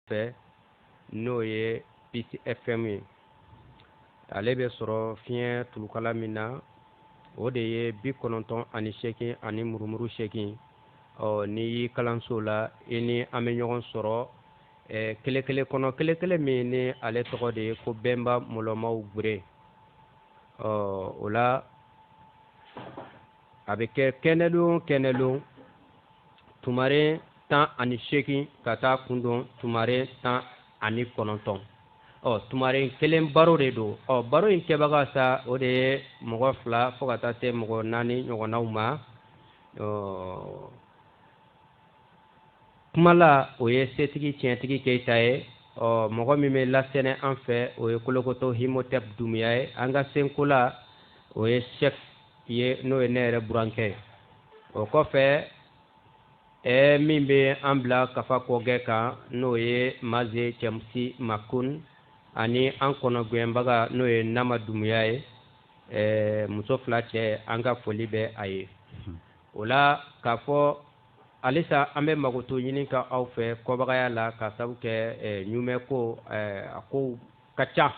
fɛ n'o ye Peace FM ye ale bɛ sɔrɔ fiɲɛ tulukala min na o de ye bi kɔnɔntɔn ani seegin ani murumuru seegin ɔ n'i y'i kalanso la i ni an bɛ ɲɔgɔn sɔrɔ ɛɛ kelen kelen kɔnɔ kelen kelen min ni ale tɔgɔ de ye ko bɛnba mɔlɔmaw gbere ɔ o la a bɛ kɛ kɛnɛlon kɛnɛlon tumaren tan ani seegin ka taa kun don tumaren tan ani kɔnɔntɔn ɔ tumaren kelen baro de don ɔ baro in kɛbaga sa o de ye mɔgɔ fila fo ka taa se mɔgɔ naani ɲɔgɔnnaw ma ɔ kumala o ye setigi tiɲɛtigi keyita ye ɔ mɔgɔ min bɛ lasɛnɛ an fɛ o ye kolokoto himotɛp dumuya ye an ka senkola o ye sɛf ye n'o ye ne yɛrɛ burankɛ ye o kɔfɛ ɛɛ min bɛ an bila kafa kɔgɛ kan n'o ye maze cɛmusi makun ani an kɔnɔgɛnbaga n'o ye nama dumuya ye ɛɛ muso fila cɛ an ka foli bɛ a ye hmm. o la k'a fɔ halisa an bɛ makoto ɲini ka aw fɛ kɔbagaya la ka sabu kɛ ɲumɛ ko a ko ka ca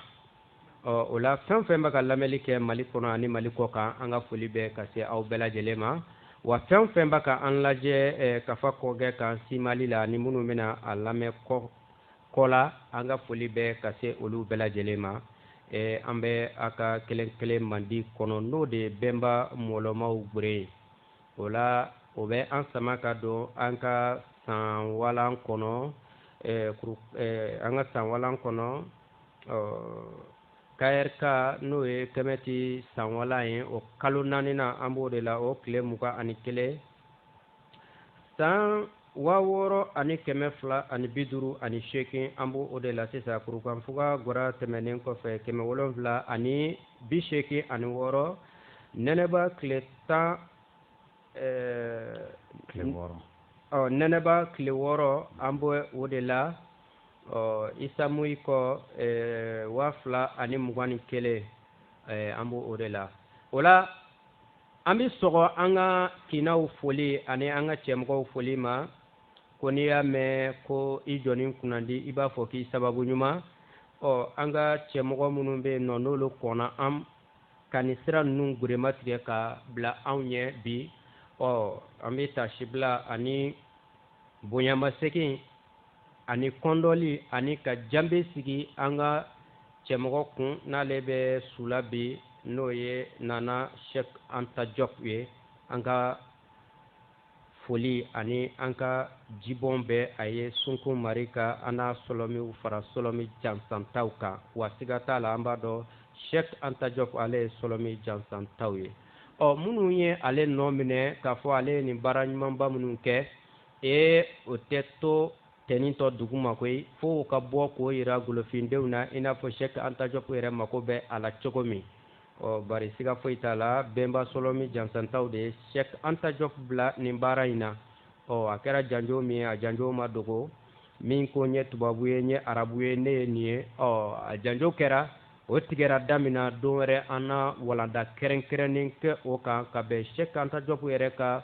ɔ o la fɛn o fɛn bɛ ka lamɛnni kɛ mali kɔnɔ ani mali kɔ kan an ka foli bɛ ka se aw bɛɛ lajɛlen ma wa fɛn o fɛn bɛ ka an lajɛ eh, kafa kɔgɛ kan simali la ni minnu bɛna a lamɛn kɔ kɔ la an ka foli bɛ ka se olu bɛɛ lajɛlen ma eh, an bɛ a ka kelen kelen mandi kɔnɔ n'o de ye bɛnba mɔlɔmaw gbere ye o la o bɛ an sama ka don an ka san walan kɔnɔ eh, kuru, eh, an ka san walan kɔnɔ ɔ KRK n'o ye kɛmɛti san walan ye o kalo naani na an b'o de la o tile mugan ani kelen san waa wɔɔrɔ ani kɛmɛ fila ani bi duuru ani seegin an b'o o de la sisan kurukanfuga gbara tɛmɛnen kɔfɛ kɛmɛ wolonwula ani bi seegin ani wɔɔrɔ nɛnɛba tile tan ɛɛ nɛnɛba tile wɔɔrɔ an b'o o de la ɔ isa moyi kɔ eh, waa fila ani mugan ni kelen eh, an b'o o de la o la an bɛ sɔgɔ an ka kinaw foli ani an ka cɛmɔgɔw foli ma ko n'i y'a mɛn ko i jɔnnin kunnandi i b'a fɔ k'i sababu ɲuman ɔ an ka cɛmɔgɔ minnu bɛ yen nɔ n'olu kɔnna an ka nin sira ninnu gurema tigɛ ka bila anw ɲɛ bi ɔ an bɛ tasibila ani bonyamasegin ani kɔndɔli ani ka janbe sigi an ka cɛmɔgɔ kun n'ale bɛ su la bi n'o ye nana shek anta jɔp ye an ka foli ani an ka jibɔn bɛ a ye sunkun mari ka an n'a sɔlɔmiw fara sɔlɔmi jansantaw kan wa siga t'a la an b'a dɔn shek anta jɔp ale ye sɔlɔmi jansantaw ye ɔ minnu ye ale nɔ minɛ k'a fɔ ale ye nin baara ɲumanba minnu kɛ ee o tɛ to tɛnintɔ dugu ma koyi fo u ka bɔ k'o yira golofindenw na i n'a fɔ shek anta jɔp yɛrɛ mako bɛ a la cogo min ɔ bari siga foyi t'a la bɛnba sɔlɔmi jansantaw de ye shek anta jɔp bila nin baara in na ɔ a kɛra janjo min ye a janjo ma dogo min ko n ye tubabu ye n ye arabu ye ne ye nin ye ɔ a janjo kɛra o tigɛra da min na don wɛrɛ an na walanda kɛrɛnkɛrɛnnen kɛ o kan ka bɛn shek anta jɔp yɛrɛ ka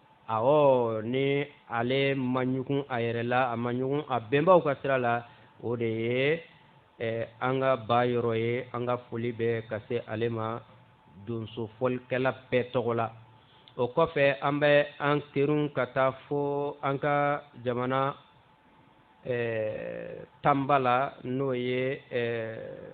a ni ale ma ɲugun a yɛrɛ la a ma ɲugun a bɛnbaw ka sira la o de ye eh, an kaba yɔrɔ ye an ka foli bɛ ka se ale ma donso fɔlikɛla bɛɛ tɔgɔ la o kɔfɛ an bɛ an kerun ka taa fo an ka jamana eh, tanba la n'o ye eh,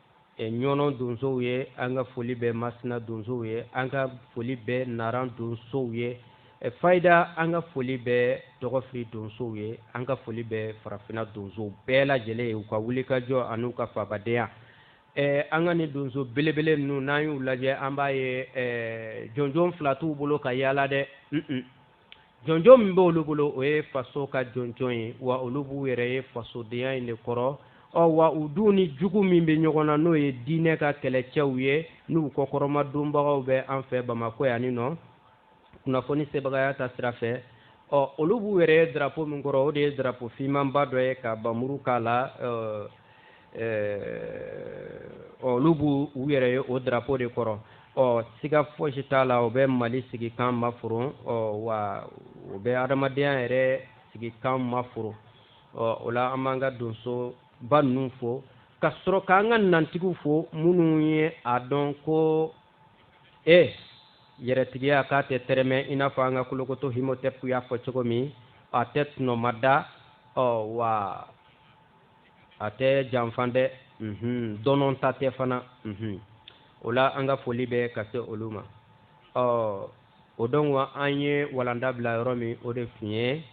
ɲɔnɔ donsow ye an ka foli bɛ masina donsow ye an ka foli bɛ naran donsow ye fayida an ka foli bɛ dɔgɔfiri donsow ye an ka foli bɛ farafinna donsow bɛɛ lajɛlen ye u ka wulikajɔ ani u ka fabadenya an ka nin donso belebele ninnu n'an y'u lajɛ an b'a ye jɔnjɔn fila t'u bolo ka yaala dɛ jɔnjɔn min b'olu bolo o ye faso ka jɔnjɔn ye wa olu b'u yɛrɛ ye fasodenya in de kɔrɔ ɔ wa u dun ni jugu min bɛ ɲɔgɔn na n'o ye diinɛ ka kɛlɛcɛw ye n'u kɔkɔrɔmadonbagaw bɛ an fɛ bamakɔ yanninɔ kunnafoni sebagaya taasira fɛ ɔ olu b'u yɛrɛ ye darapo min kɔrɔ o de ye darapo finmanba dɔ ye ka npanmuru k'a la olu b'u yɛrɛ ye o darapo de kɔrɔ ɔ siga fosi t'a la o bɛ mali sigikan maforon ɔ wa o bɛ adamadenya yɛrɛ sigikan maforon ɔ o la an b'an ka donsoba ninnu fo ka sɔrɔ k'an ka nantigiw fo minnu ye a dɔn ko e yɛrɛtigiya k'a tɛ tɛrɛmɛ i n'a fɔ an ka kolokoto himotɛpu y'a fɔ cogo min a tɛ tɔnɔmada ɔ wa a tɛ janfa dɛ mhm, dɔnɔta tɛ fana mhm. o la an ka foli bɛ ka se olu ma ɔ o don na an ye walanda bila yɔrɔ min o de tun ye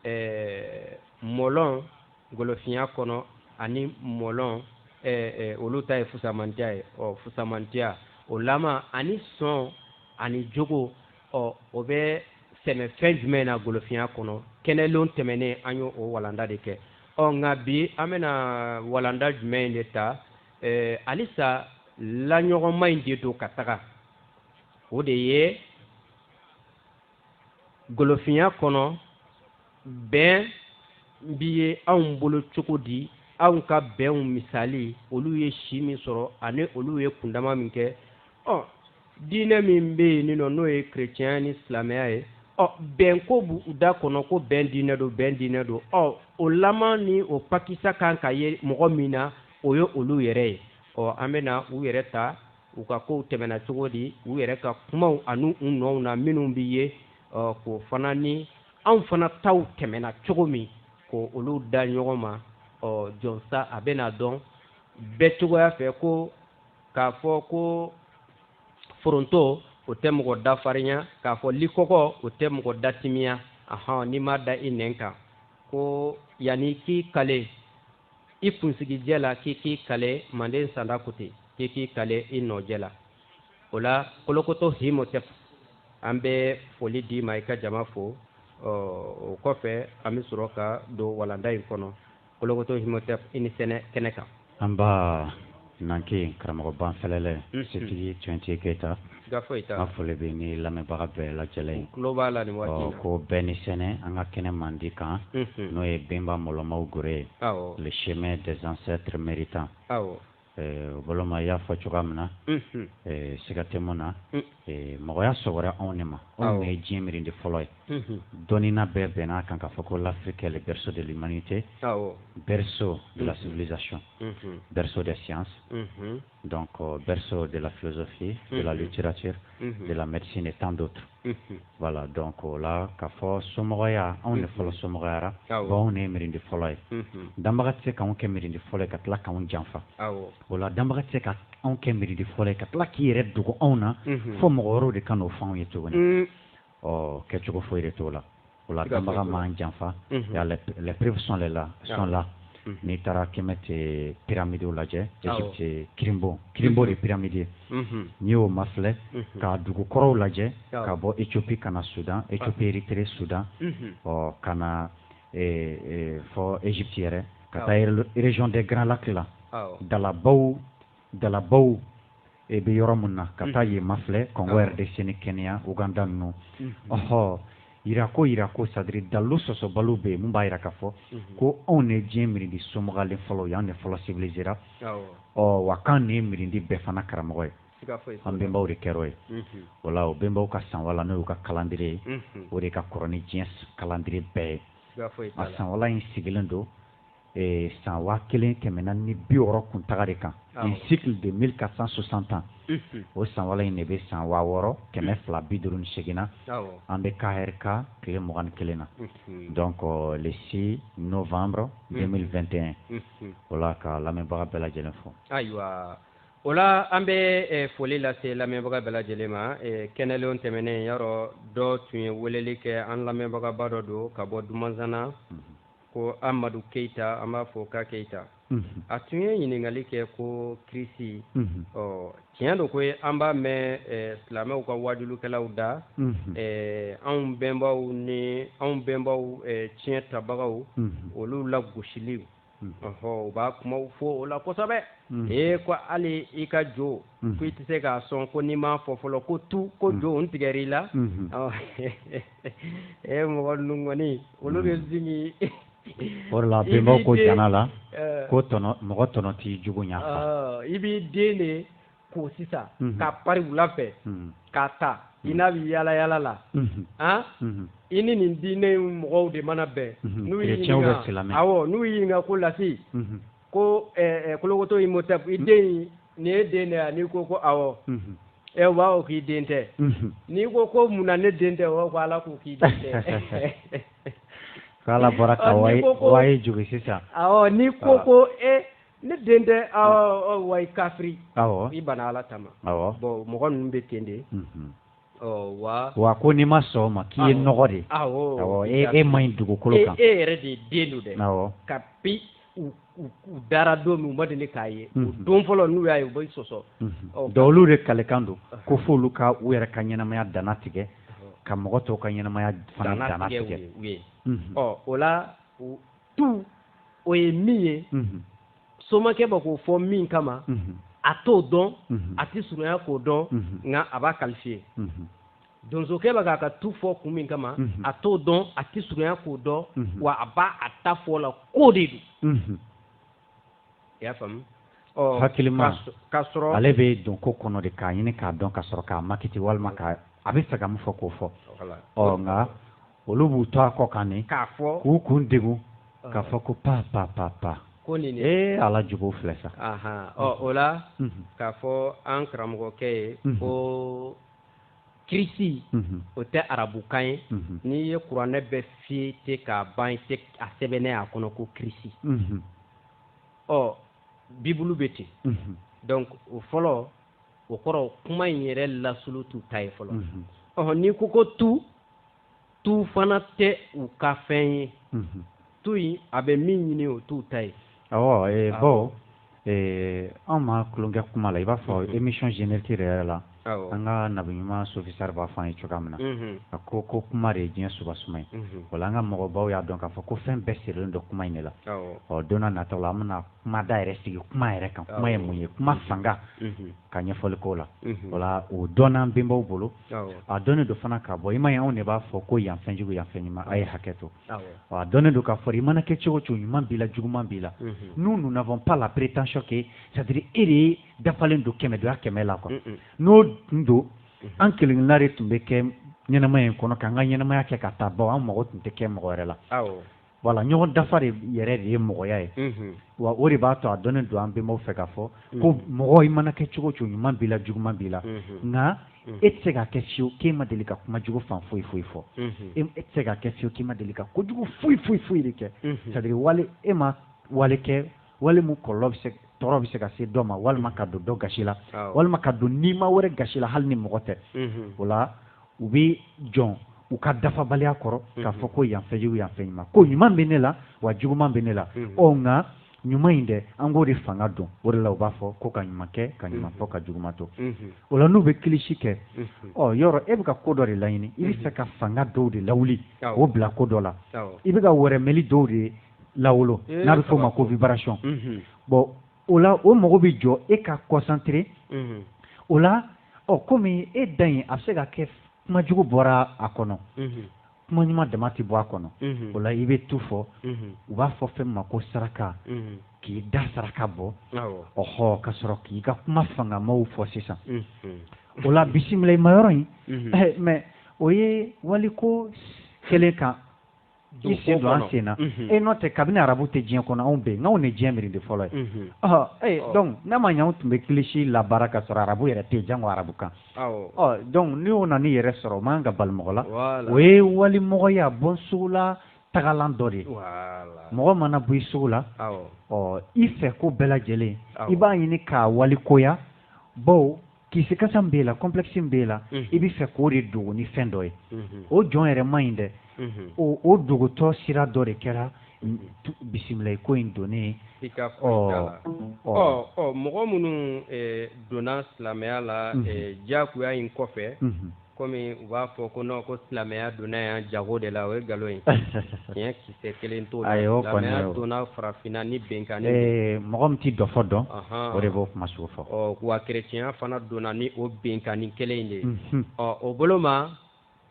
ɛɛ mɔlɔn golofinya kɔnɔ ani mɔlɔn ɛɛ olu ta ye fusamantiya ye ɔ fusamantiya o lama ani sɔn ani jogo ɔ o bɛ sɛmɛ fɛn jumɛn na golofinya kɔnɔ kɛnɛlon tɛmɛnen an ye o walanda de kɛ ɔ nka bi an bɛna walanda jumɛn in de ta ɛɛ halisa laɲɔgɔnma in de don ka taga o de ye golofinya kɔnɔ bɛn bi ye anw bolo cogo di anw ka bɛnw misali olu ye si min sɔrɔ ani olu ye kundama min kɛ ɔ diinɛ min bɛ yen nɔ n'o ye kerecɛn ni silamɛya ye ɔ bɛn ko b'u da kɔnɔ ko bɛn diinɛ don bɛn diinɛ don ɔ o laman ni o pakisa kan ka ye mɔgɔ min na o ye olu yɛrɛ ye ɔ an bɛ na u yɛrɛ ta u ka kow tɛmɛna cogo di u yɛrɛ ka kumaw ani u nɔw na minnu bɛ ye ɔ k'o fana ni anw fana taw tɛmɛna cogo min ko olu da ɲɔgɔn ma ɔ jɔnsa a bɛna dɔn bɛɛ cogoya fɛ ko k'a fɔ ko foronto o tɛ mɔgɔ da farinya k'a fɔ likɔkɔ o tɛ mɔgɔ da timiya ahɔn n'i m'a da i nɛn kan ko yanni k'i kale i kunsigijɛ la k'i k'i kale manden sanda ko ten k'i k'i kale i nɔjɛ la o la kolokoto himotep an bɛ foli d'i ma i ka jama fo o kɔfɛ an bɛ sɔrɔ ka don walanda in kɔnɔ kolokoto himotep i ni sɛnɛ kɛnɛ kan anba Nanke karamɔgɔ banfɛlɛlɛ setigi twenty keyita an foli bɛ nin lamɛnbaga bɛɛ lajɛlen ye ko bɛɛ ni sɛnɛ an ka kɛnɛ mandi kan n'o ye benba mɔlɔmaw gore ye le chemin des ancêtres méritants o boloma y'a fɔ cogoya min na siga tɛ min na mɔgɔya sɔgɔra anw de ma anw ye diɲɛ miirindi fɔlɔ ye dɔnnina bɛɛ bɛnna a kan k'a fɔ ko l'Afrique est le berceau de l'humanité berceau de la civilisation mhm. berceau des sciences, mhm. donc euh, berceau de la philosophie, de la littérature, de la médecine et tant d'autres. Voilà, donc o la, k'a fɔ somɔgɔya, anw de fɔlɔ somɔgɔyara, bon anw de ye mirindi fɔlɔ ye. Danbaga tɛ se k'anw kɛ mirindi fɔlɔ ye ka tila k'anw janfa. O la, danbaga tɛ se ka anw kɛ mirindi fɔlɔ ye ka tila k'i yɛrɛ dogo anw na fo mɔgɔ wɛrɛw de ka n'o fɔ anw ye tuguni. ɔ kɛcogo foyi de t'o la o la danbaga m'an janfa les preuves sont là n'i taara Kemet pyramides lajɛ Egypte ah, kirinbon kirinbon de pyramide ye mhm. n'i y'o mafilɛ mhm. ka dugu kɔrɔw lajɛ ah. ka bɔ Ethiopie ka na Soudan ah. Ethiopie Erythrée Soudan mhm. ɔ ka na eh, eh, fo Egypte yɛrɛ ka taa région des Grands Lacs la dalabaw dalabaw i bɛ yɔrɔ min na ka taa yen mafilɛ kongo RDC ni kenya uganda ninnu ɔhɔ yira ko yira ko sadiri dalu sɔsɔbaliw bɛ yen min b'a yira k'a fɔ ko anw de diɲɛ mirindi somɔgɔlen fɔlɔ ye anw de fɔlɔ sibilizera ɔ wa k'an de ye mirindi bɛɛ fana karamɔgɔ ye an bɛnbaw de kɛr'o ye wala o bɛnbaw ka sanwala n'o y'u ka kalandiriye ye o de ka kɔrɔ ni diɲɛ kalandiriye bɛɛ ye a sanwala in sigilen don san waa kelen kɛmɛ naani bi wɔɔrɔ kuntaga de kan un cycle de mille quatre cent soixante ans o sanwala in de bɛ san waa wɔɔrɔ kɛmɛ fila bi duuru ni segin na an bɛ kahɛrika tile mugan ni kelen na donc le six novembre deux mille vingt et un o la ka lamɛnbaga bɛɛ lajɛlen fo ayiwa o la an bɛ foli lase lamɛnbaga bɛɛ lajɛlen ma kɛnɛlenw tɛmɛnen yɔrɔ dɔ tun ye weleli kɛ an lamɛnbagaba dɔ don ka bɔ dumanzana ko amadu keyita an b'a fɔ ka keyita a tun ye ɲininkali kɛ ko kirisi ɔ tiɲɛ don koyi an b'a mɛn silamɛw ka waajulikɛlaw da anw bɛnbaw ni anw bɛnbaw tiɲɛ tabagaw olu la gosiliw ɔɔ u b'a kumaw fɔ o la kosɛbɛ ee ko hali i ka jo ko i tɛ se k'a sɔn ko n'i m'a fɔ fɔlɔ ko tu ko jo n tigɛr'i la e mɔgɔ ninnu kɔni olu bɛ zigi o la bɛnbaw ko jana la eh. ko tɔnɔ mɔgɔ tɔnɔ t'i jugu ɲa fa i b'i den de ko sisan mhm. k'a pari wula fɛ mhm. k'a ta i n'a bɛ yaala yaala la mhm. an i ni nin diinɛ mɔgɔw de mana bɛn n'u y'i ɲininka awɔ n'u y'i ɲininka ko lasi ko kolokoto imhotep i den nin ye den de ye n'i ko ko awɔ u b'a fɔ k'i den tɛ n'i ko ko munna ne den tɛ u ko ala ko k'i den tɛ k'ala bɔra ye jugu sisan n'i ko ko e ne den tɛ wa i kafiri i bana ala ta ma bon mɔgɔ ninnu bɛ ten de wa ko n'i ma sɔn o ma k'i ye nɔgɔ de ye e man ɲi dugukolo kan e yɛrɛ de ye den don dɛ kabi u dara don min u ma deli k'a ye don fɔlɔ n'u y'a ye u bɛ sɔsɔ donc olu de kalikan don ko f'olu ka u yɛrɛ ka ɲɛnamaya dannatigɛ ka mɔgɔ tɔw ka ɲɛnamaya fana dannatigɛ ɔ o la tu o ye min ye somakɛ bɛ k'o fɔ min kama a t'o dɔn a tɛ surunya k'o dɔn nka a b'a kalifiye donsokɛ bɛ k'a ka tu fɔ kun min kama a t'o dɔn a tɛ surunya k'o dɔn wa a b'a a ta fɔ la k'o de don i y'a faamu hakilima ale bɛ don ko kɔnɔ de k'a ɲini k'a dɔn ka sɔrɔ k'a makiiti walima k'a a bɛ fɛ ka mun fɔ k'o fɔ ɔ nka olu b'u to a kɔ kan nin k'a fɔ k'u kun degun k'a fɔ ko pa pa pa pa ko nin ee ala jugu filɛ sa ɔ o la k'a fɔ an karamɔgɔkɛ ye ko kirisi mhm. o tɛ arabukan ye mhm. n'i ye kuranɛ bɛɛ feuilleter k'a ban i t'a sɛbɛnnen ye a kɔnɔ ko kirisi mhm. ɔ bibulu bɛ ten donc o fɔlɔ o kɔrɔ kuma in yɛrɛ lasulu t'u ta ye fɔlɔ ɔhɔn n'i ko ko tu tu fana tɛ u ka fɛn ye tu in a bɛ min ɲini o t'u ta ye baw anw ma tulonkɛ kuma la i b'a fɔ émission générique yɛrɛ la an ka na ɲuman sofisar b'a fɔ an ye cogoya min na a ko ko kuma de ye diɲɛ suba suma ye wala an ka mɔgɔbaw y'a dɔn k'a fɔ ko fɛn bɛɛ sirilen don kuma in de la ɔ don nataw la an kuma da yɛrɛ sigi kuma yɛrɛ kan kuma ye mun ye kuma fanga ka ɲɛfɔli k'o la wala o dɔnna an bɛnbaw bolo a dɔnnen don fana ka bɔ i m'a ye anw de b'a fɔ ko yan fɛn jugu yan fɛn ɲuman a ye hakɛ to a dɔnnen don k'a fɔ i mana kɛ cogo cogo ɲuman b'i la juguman b'i la nous nous n'avons pas la prétention que c'est-à-dire e de ye dafalen don kɛmɛ donya kɛmɛ la quoi n'o tun don an kelenkelenna de tun bɛ kɛ ɲɛnamaya in kɔnɔ k'an ka ɲɛnamaya kɛ ka taa baw an mago tun tɛ kɛ mɔgɔ wɛrɛ la wala ɲɔgɔn dafa de yɛrɛ de ye mɔgɔya ye wa o de b'a to a dɔnnen don an bɛnbaw fɛ k'a fɔ ko mɔgɔ i mana kɛ cogo cogo ɲuman b'i la juguman b'i la nka e tɛ se ka kɛ fiyewu k'e ma deli ka kuma jugu fan foyi foyi fɔ e tɛ se ka kɛ fiyewu k'e ma deli ka kojugu foyi foyi foyi de kɛ c'est-à-dire wale e ma wale kɛ wale mun kɔlɔlɔ bɛ se tɔɔrɔ bɛ se ka se dɔ ma walima ka don dɔ gasi la walima ka don nima wɛrɛ gasi la hali ni mɔgɔ tɛ o la u bɛ jɔn u ka dafabaliya kɔrɔ k'a fɔ ko yan fɛn jugu yan fɛn ɲuman ko ɲuman bɛ ne la wa juguman bɛ ne la ɔ nka ɲuman in dɛ an k'o de fanga dɔn o de la u b'a fɔ ko ka ɲuman kɛ ka ɲuman fɔ ka juguman to o la n'u bɛ kilisi kɛ ɔ yɔrɔ e bɛ ka ko dɔ de laɲini i bɛ fɛ ka fanga dɔw de lawuli k'o bila ko dɔ la i bɛ ka yɛrɛyɛrɛli dɔw de ye lawolo n'a bɛ f'o ma ko vibration bon o la o mago bɛ jɔ e ka concentrer o la ɔ kɔmi e da in a bɛ se ka kɛ kuma jugu bɔra a kɔnɔ kuma ɲuman dama tɛ bɔ a kɔnɔ o la i bɛ tu fɔ u b'a fɔ fɛn ma ko saraka k'i da saraka bɔ ɔɔ ka sɔrɔ k'i ka kuma fangamaw fɔ sisan o la bisimila i ma yɔrɔ in mɛn o ye waliko kɛlen kan i sen don an sen na e n'o tɛ kabini arabu tɛ diɲɛ kɔnɔ anw bɛ yen anw de diɲɛ miiri de fɔlɔ ye ee dɔnku n'a ma ɲɛ anw tun bɛ kilisi labaara ka sɔrɔ arabu yɛrɛ tɛ janko arabu kan dɔnku ni o nana i yɛrɛ sɔrɔ o man kan ka bali mɔgɔ la o ye walimɔgɔya bɔ sugu la tagalan dɔ de ye mɔgɔ mana bɔ i sugu la ɔ i fɛ ko bɛɛ lajɛlen i b'a ɲini k'a walikoya bawo kisikasa min b'e la complexe min b'e la i b'a fɛ k'o de dogo ni fɛn dɔ ye o jɔn yɛrɛ man ɲi dɛ o dogotɔ sira dɔ de kɛra bisimila ko in donnen i ka la ɔ mɔgɔ minnu donna silamɛya la diyagoya in kɔfɛ kɔmi u b'a fɔ ko nɔn ko silamɛya donna yan jago de la o ye nkalon ye tiɲɛ kisɛ kelen t'o la silamɛya donna farafinna ni binkanni de mɔgɔ min tɛ dɔfɔ dɔn o de b'o kuma sugu fɔ ɔ wa kerecɛnya fana donna ni o binkanni kelen in de ye ɔ o bolo ma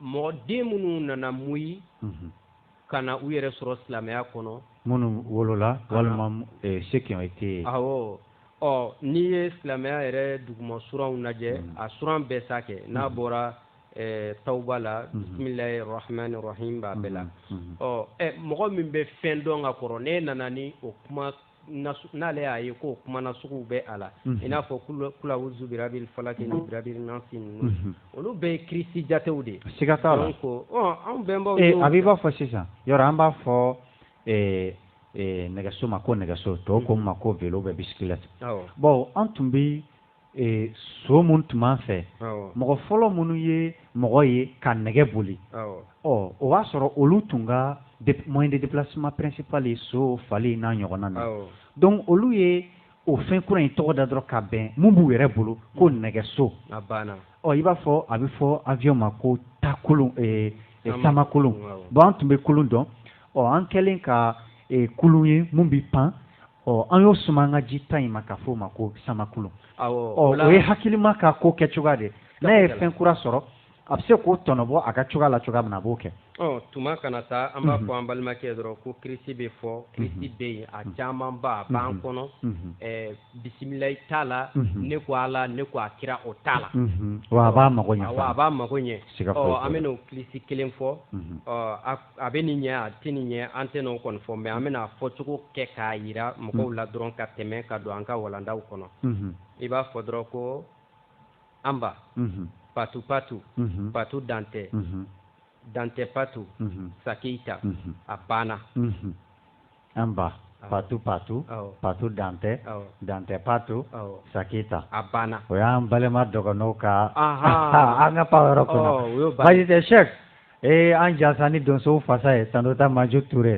mɔgɔ den minnu nana muyi ka na u yɛrɛ sɔrɔ silamɛya kɔnɔ minnu wolola walima eh, ceux qui ont été awɔ ɔ n'i ye silamɛya yɛrɛ duguma suranw lajɛ hmm. a suran bɛɛ sa kɛ n'a hmm. bɔra eh, tawuba la hmm. bisimilahi rahmani rahim b'a bɛɛ la ɔ eh, mɔgɔ min bɛ fɛn dɔn ka kɔrɔ n'e nana ni o kuma n'ale y'a ye ko kuma nasugu bɛ a la i n'a fɔ kulawuzu birabil falaki ni birabil nasi ninnu olu bɛɛ ye kirisi jatew de ye siga t'a la ko anw bɛnbaw ee a b'i b'a fɔ sisan yɔrɔ an b'a fɔ nɛgɛso ma ko nɛgɛso tɔw k'o ma ko vélo bɛ bicyclette bon an tun bɛ ee so mun tun b'an fɛ mɔgɔ fɔlɔ minnu ye mɔgɔ ye ka nɛgɛ boli ɔ o b'a sɔrɔ olu tun ka moyen de déplacement principal ye so fali n'a ɲɔgɔnna na donc olu ye o fɛn kura in tɔgɔ da dɔrɔn ka bɛn mun b'u yɛrɛ bolo ko mm. nɛgɛso ɔ i b'a fɔ a bɛ fɔ avion ma ko takulun eh, eh, samakulun bon an tun bɛ kulun dɔn ɔ an kɛlen ka eh, kulun ye mun bɛ pan ɔ an y'o suma an ka ji ta in ma k'a fɔ o ma ko samakulun o ye hakilima ka ko kɛ cogoya de n'a ye fɛn kura sɔrɔ a bɛ se k'o tɔnɔbɔ a ka cogoya la cogoya min na a b'o kɛ tuma kana taa an b'a mhm. fɔ an balimakɛ dɔrɔn ko kirisi bɛ fɔ mhm. kirisi bɛ yen a mhm. camanba a b'an kɔnɔ bisimilayi t'a la ne ko ala ne ko a kira o t'a la wa a b'a mago ɲɛ a b'a mago ɲɛ an bɛ n'o kirisi kelen fɔ a bɛ nin ɲɛ a tɛ nin ɲɛ an tɛ n'o kɔni fɔ mais an bɛna a fɔcogo kɛ k'a yira mɔgɔw la dɔrɔn ka tɛmɛ ka don an ka walandaw kɔnɔ i b'a fɔ dɔrɔn ko anba patu patu patu dantɛ dantɛ patu sakeyita a banna an ba patu patu patu dantɛ dantɛ patu saki ta a banna o y'an balima dɔgɔninw ka an ka pan yɔrɔ kɔnɔ baasi tɛ sɛki ee an jansa ni donso fasa ye tantɔ taa maju ture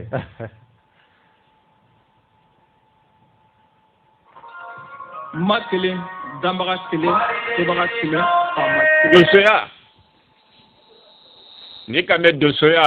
ma kelen danbaga kelen sebaga kelen faama kelen donsoya n'i k'a mɛn donsoya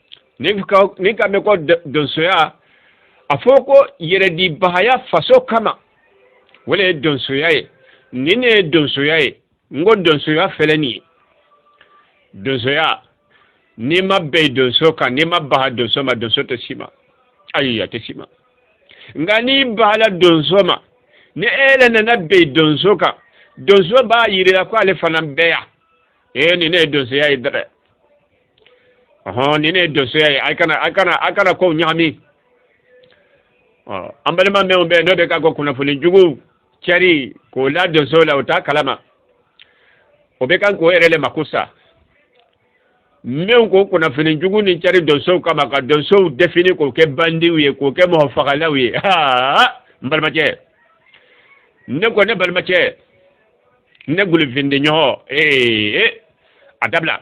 n'i k'a n'i k'a mɛn ko donsoya a fɔ ko yɛrɛdibagaya faso kama o le ye donsoya ye nin ne ye donsoya ye n ko donsoya fɛlɛ nin ye donsoya n'i ma bɛn donso kan n'i ma baga donso ma donso tɛ s'i ma ayi a tɛ s'i ma nka n'i bagala donso ma ni e yɛrɛ nana bɛn donso kan donso b'a yirila ko ale fana bɛ yan ee nin ne ye donsoya ye dɛ ɔhɔn nin ne ye donsoya ye a kana a kana a kana kow ɲagami ɔ an balima mɛnw bɛ n'o bɛ ka ko kunnafoni jugu cɛri k'o la donso la o t'a kalama o bɛ kan k'o yɛrɛ le mako sa mɛnw ko kunnafoni jugu nin cɛri donsow kama ka donsow defini k'o kɛ bandiw ye k'o kɛ mɔgɔfagalaw ye aa n balimacɛ ne ko ne balimacɛ ne gulifindi ɲɔgɔn ee a dabila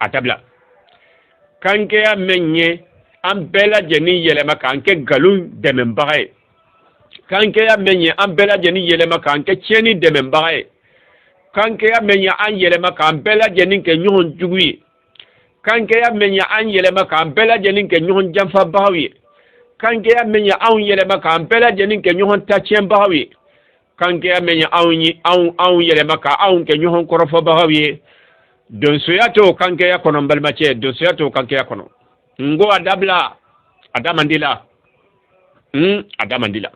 a dabila kankɛya mɛn ye an bɛɛ lajɛlen yɛlɛma k'an kɛ nkalon dɛmɛbaga ye kankɛya mɛn ye an bɛɛ lajɛlen yɛlɛma k'an kɛ tiɲɛni dɛmɛbaga ye kankɛya mɛn ye an yɛlɛma k'an bɛɛ lajɛlen kɛ ɲɔgɔn jugu ye kankɛya mɛn ye an yɛlɛma k'an bɛɛ lajɛlen kɛ ɲɔgɔn janfabagaw ye kankɛya mɛn ye anw yɛlɛma k'an bɛɛ lajɛlen kɛ ɲɔgɔn tacɛnbagaw ye kankɛya mɛn ye anw ye anw anw yɛlɛma ka anw kɛ ɲɔgɔn kɔrɔfɔbagaw ye donsoya t'o kankɛya kɔnɔ n balimacɛ donsoya t'o kankɛya kɔnɔ n ko a dabila a da man d'i la n a da man d'i la